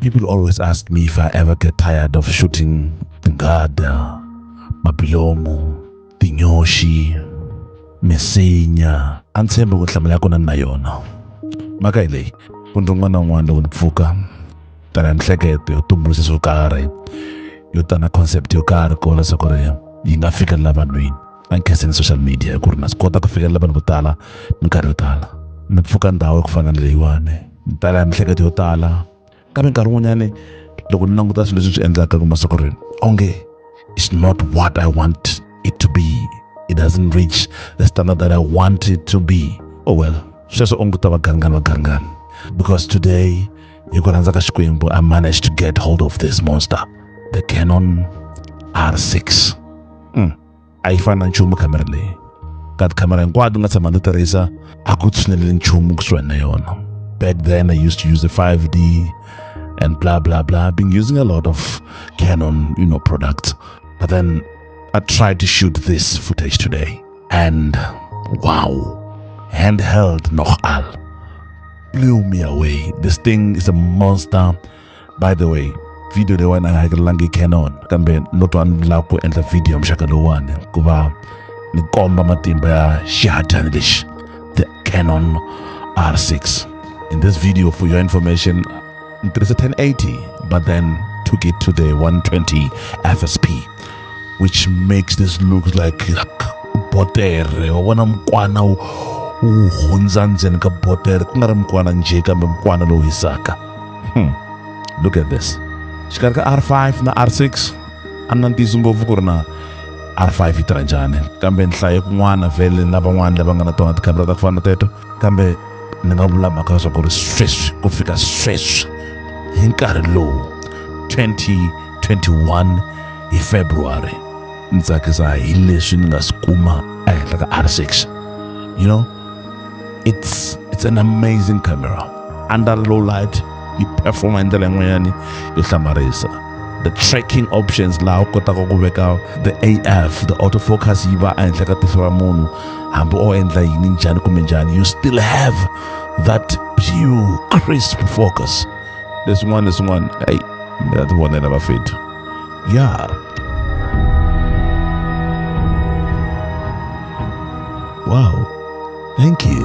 People always ask me if I ever get tired of shooting Tingada, Mabilomo, Tinyoshi, Misinya. A ndzi tshembe ku hlamula ya kona ni na yona. Mhaka hi leyi, ku ndzi un'wana na un'wana loko ni pfuka, tana hi mihleketo yo tumbuluxa swo karhi, yo tana concept yo karhi ku vona leswaku ri yi nga fikelela vanhwini. a ni khenseni social media ku ri na swi kota ku fikelela vanhu vo tala minkarhi yo tala ni pfuka ndhawu ya ku fana na leyiwani ni tala ya miehleketo yo tala kambe nkarhi wun'wanyani loko ni languta swilo leswi swi endlaka ku masiku ri onge it's not what i want it to be it doesn't reach the standard that i want it to be oh well sweswo onge ta vaganingani vaganingani because today hi ku rhandza ka xikwembu i managed to get hold of this monster the canon r6 mm. a yi fani na nchumu khamera leyi ka tikhamera hinkwato nga tshama ndzi tirhisa a ku tshineleli nchumu kusuhi na yona back then i used to use the 5d and blah blah blah been using a lot of canon you know products but then i tried to shoot this footage today and wow handheld noch all blew me away this thing is a monster by the way video leyiwani a yi hakelelangi canon kambe no twa ni lava ku endla video ya muxaka lowuwani ku va ni komba matimba ya xihadyani lexi the canon r6 in this video for your information ni tirhise 1080 but then took it to the 120 fsp which makes this look like botere wa vona mukwana wu hundza ndzeni ka botere ku nga ri mukwana njhe kambe mukwana lowu hisaka hmm. look at this xikarhi ka r5 na r6 a na ntiyiso ngopfu ku ri na r5 yi tirha njhani kambe ni hlaye kun'wana vhele na van'wana lava nga na tona tikhamera ta ku fana na teto kambe ni nga vula mhaka leswaku ri sweswi ku fika sweswi hi nkarhi lowu 2021 hi february ni tsakisa hi leswi ni nga swi kuma ehenhla ka r6 you know it's it's an amazing camera under low light yi performa hi ndlela yin'wanyani yo hlamarisa the tracking options laha u kotaka ku veka the af the autofocus yi va ehenhla ka tihlo ra munhu hambi o endla yini njhani kumbe njhani you still have that pure crisp focus leswin'wana leswin'wana eyi mi ta ti vonela vafethu ya yeah. Wow. Thank you.